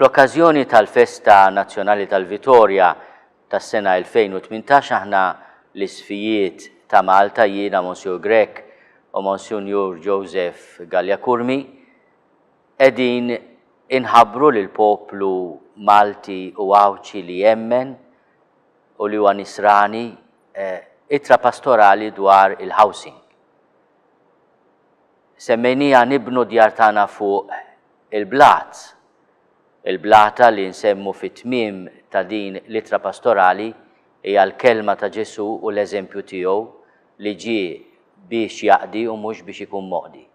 Fl-okkażjoni tal-Festa Nazzjonali tal-Vitorja tas-sena 2018 aħna l-Isfijiet ta' Malta, jiena Monsiur Grech u Monsinjur Joseph Galea Curmi, qegħdin inħabbru lill-poplu Malti u Għawdxi li jemmen u li huwa Nisrani ittra pastorali dwar il-housing. Semmejniha nibnu d-djar tagħna fuq il-blat. Il-blata li nsemmu fit-tmiem ta' din l-ittra pastorali hija l-kelma ta' Ġesù u l-eżempju tiegħu li ġie biex jaqdi u mhux biex ikun moqdi.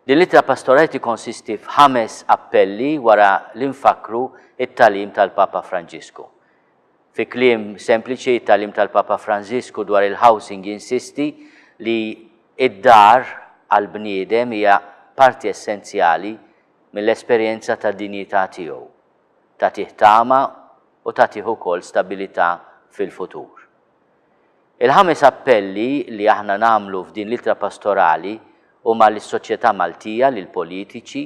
Din l-ittra pastorali tikkonsisti f'ħames appelli wara li nfakkru t-tagħlim tal-Papa Franġisku. Fi kliem sempliċi, it-tagħlim tal-Papa Franżisku dwar il-housing jinsisti li d-dar għall-bniedem hija parti essenzjali mill-esperjenza ta' dinjità tiegħu, tagħtih tama u tagħtih ukoll stabilità fil-futur. Il-ħames appelli li aħna nagħmlu f'din l-ittra pastorali huma lis-soċjetà Maltija, lill-politiċi,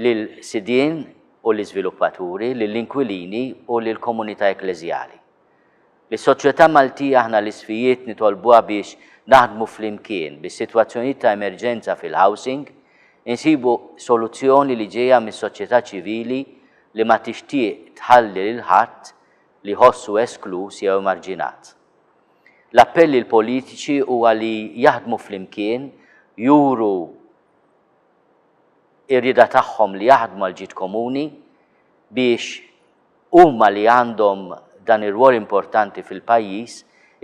lill-sidien u l-iżviluppaturi, lill-inkwilini u lill-komunità ekkleżjali. Lis-soċjetà Maltija aħna l-isfijiet nitolbuha biex naħdmu flimkien bi sitwazzjonijiet ta' emerġenza fil-housing, insibu soluzzjoni li ġejja mis-soċjetà ċivili li ma tixtieq tħalli lil ħadd li jħossu eskluż jew emarġinat. L-appell lill-politiċi huwa li jaħdmu flimkien, juru, ir-rieda tagħhom li jaħdmu għal ġid komuni biex huma li għandhom dan ir-rwol importanti fil-pajjiż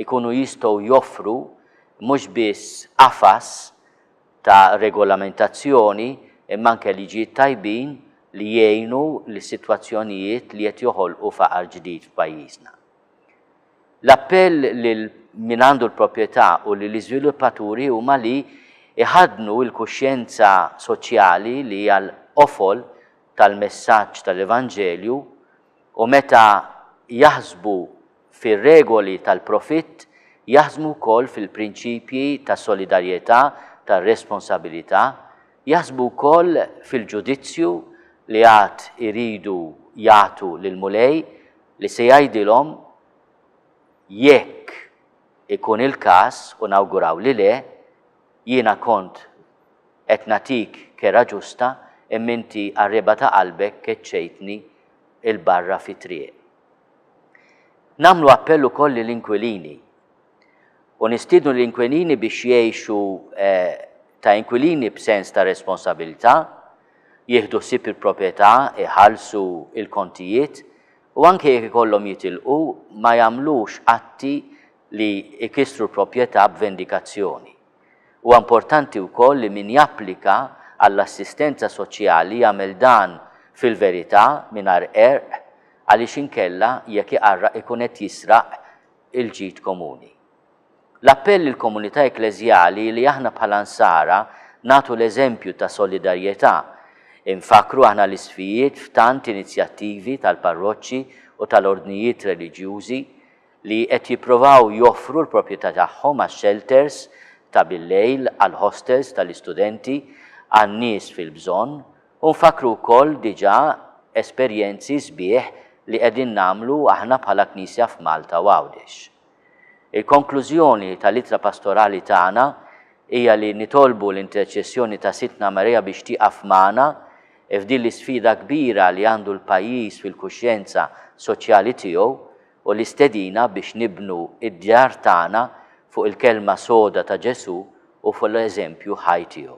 ikunu jistgħu joffru mhux biss qafas ta' regolamentazzjoni imma anke liġijiet tajbin li jgħinu lis-sitwazzjonijiet li qed joħolqu faqar ġdid f'pajjiżna. L-appell lil min għandu l-proprjetà u lill-iżviluppaturi huma li jħaddnu l-kuxjenza soċjali li hija l-qofol tal-messaġġ tal-Evanġelju u meta jaħsbu fir-regoli tal-profitt jaħsmu wkoll fil-prinċipji ta' solidarjetà, ta' responsabilità, jaħsbu wkoll fil-ġudizzju li għad iridu jagħtu lill-Mulej, li se jgħidilhom jekk ikun il-każ, u nawguraw li le, jiena kont qed nagħtik kerha ġusta imma inti qarrieba ta' qalbek keċċejtni 'l barra fit-triq. Nagħmlu appell ukoll lill-inkwilini. u nistiednu lill-inkwilini biex jgħixu ta' inkwilini b'sens ta' responsabilità, jieħdu ħsieb il-proprjetà, iħallsu l-kontijiet u anke jekk ikollhom jitilqu ma jagħmlux atti li jkissru l-proprjetà b'vendikazzjoni. Huwa importanti wkoll li min japplika għall-assistenza soċjali jagħmel dan fil-verità mingħajr qerq għaliex inkella jekk iqarraq ikun qed jisraq il-ġid komuni. L-appell lill-komunità ekkleżjali hi li aħna bħala Nsara nagħtu l-eżempju ta' solidarjetà. Infakkru aħna l-isfijiet f'tant inizjattivi tal-parroċċi u tal-ordnijiet reliġjużi li qed jipprovaw joffru l-proprjetà tagħhom għax-xelters ta' bil-lejl, għall-ħostels tal-istudenti, għan-nies fil-bżonn U nfakkru wkoll diġà esperjenzi sbieħ li qegħdin nagħmlu aħna bħala Knisja f'Malta u Għawdex. Il-konklużjoni tal-ittra pastorali tagħna hija li nitolbu l-interċessjoni ta' Sidtna Marija biex tieqaf magħna f'din l-isfida kbira li għandu l-pajjiż fil-kuxjenza soċjali tiegħu u l-istedina biex nibnu d-djar tagħna fuq il-kelma soda ta' Ġesù u fuq l-eżempju ħaj tiegħu.